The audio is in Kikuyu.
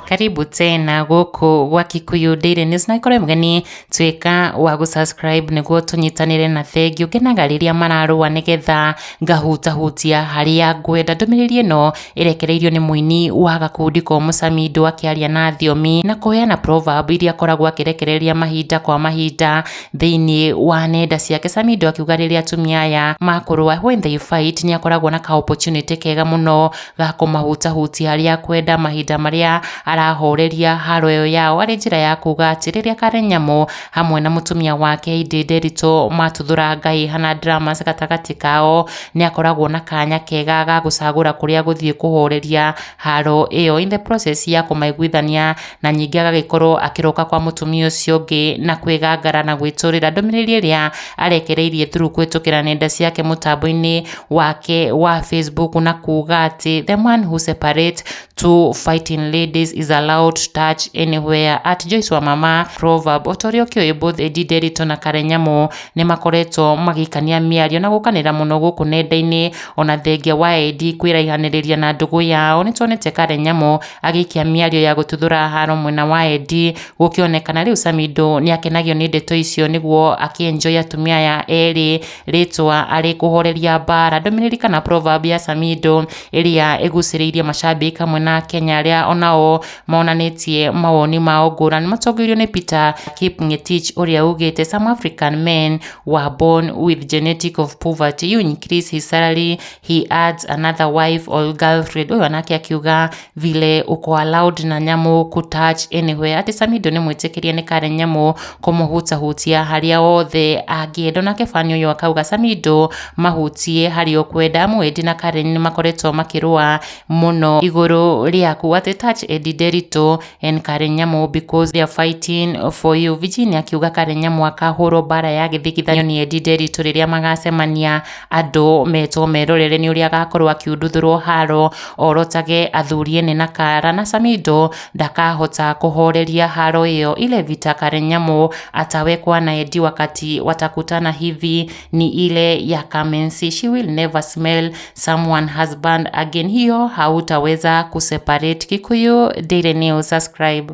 karibu tena gũkũ gwa kikuyu daily news na ikorwo mgeni tuĩka wa gũsubscribe nĩguo tũnyitanĩre na bengi ũkenaga rĩrĩa mararũa nĩgetha ngahutahutia harĩa ngwenda ndũmĩrĩri ĩno ĩrekereirio nĩ mũini wa gakundi ko mũcamindo akĩaria na thiomi na kũheana proverb iria akoragwo akĩrekereria mahinda kwa mahinda thĩinĩ wa nenda ciake samido akiuga rĩrĩa atumia aya makũrũa when they fight nĩ akoragwo na ka opportunity kega mũno ga kũmahutahutia harĩa kwenda mahinda marĩa arahoreria haro ĩyo yao arĩ njĩra ya kuga atĩ rĩrĩa karen nyamũ hamwe na mũtumia wake indi nderitũ matuthũra ngai hana dramas gatagatĩ kao nĩ akoragwo na kanya kega ga gũcagũra kũrĩa gũthiĩ kũhoreria haro ĩyo in the process ya kũmaiguithania na ningĩ agagĩkorwo akĩroka kwa mũtumia ũcio ũngĩ na kwĩgangara na gwĩtũrĩra ndũmĩrĩri ĩrĩa arekereirie through kũhĩtũkĩra nenda ciake mũtambo-inĩ wake wa Facebook na kuuga atĩ the man who separate two fighting ladies is allowed to touch anywhere at Joyce wa mama proverb o ta ũrĩa ũkĩũĩ both Edi Nderito na Karen Nyamu nĩ makoretwo magĩkania mĩario na gũkanĩra mũno gũkũ nenda-inĩ ona thengia wa Edi kwĩraihanĩrĩria na ndũgũ yao nĩ tuonete Karen Nyamu Agĩikia mĩario ya gũtuthũra haro mwena wa Eddie, gũkĩonekana rĩu Samido nĩ akenagio nĩ ndeto icio nĩguo akĩenjoy atumia aya erĩ rĩtwa arĩ kũhoreria mbara. Ndũmĩrĩri kana proverb ya Samido ĩrĩa ĩgucĩrĩirie macambĩki hamwe na Akenya arĩa onao monanĩtie mawoni mao ngũrani matongoirio nĩ Peter Kipng'etich ũrĩa ugĩte some African men were born with genetic of poverty you increase his salary he adds another wife or girlfriend ũyũ anake akiuga vile uko allowed na nyamũ ku touch anywhere ati samido nĩ mwĩtĩkĩrie nĩ karen nyamũ kũmũhutahutia harĩa hothe angĩenda nake fani ũyũ akauga samido mahutie harĩa ũkwenda amu edi na karen nĩ makoretwo makĩrũa mũno igũrũ rĩaku ati touch edi derito and karen nyamũ because they are fighting for you virginia akiuga karen nyamũ akahũrwo bara ya gĩthigithanio nĩ edi derito rĩrĩa magacemania andũ metwo merorere nĩ ũrĩa agakorwo akiunduthũrwo haro orotage athuri ene na kara na Samido ndakahota kũhoreria haro ĩyo ile vita Karenyamu atawekwa na Edi wakati watakutana hivi ni ile ya Kamensi she will never smell someone husband again hiyo hautaweza kuseparate Kikuyu Daily News subscribe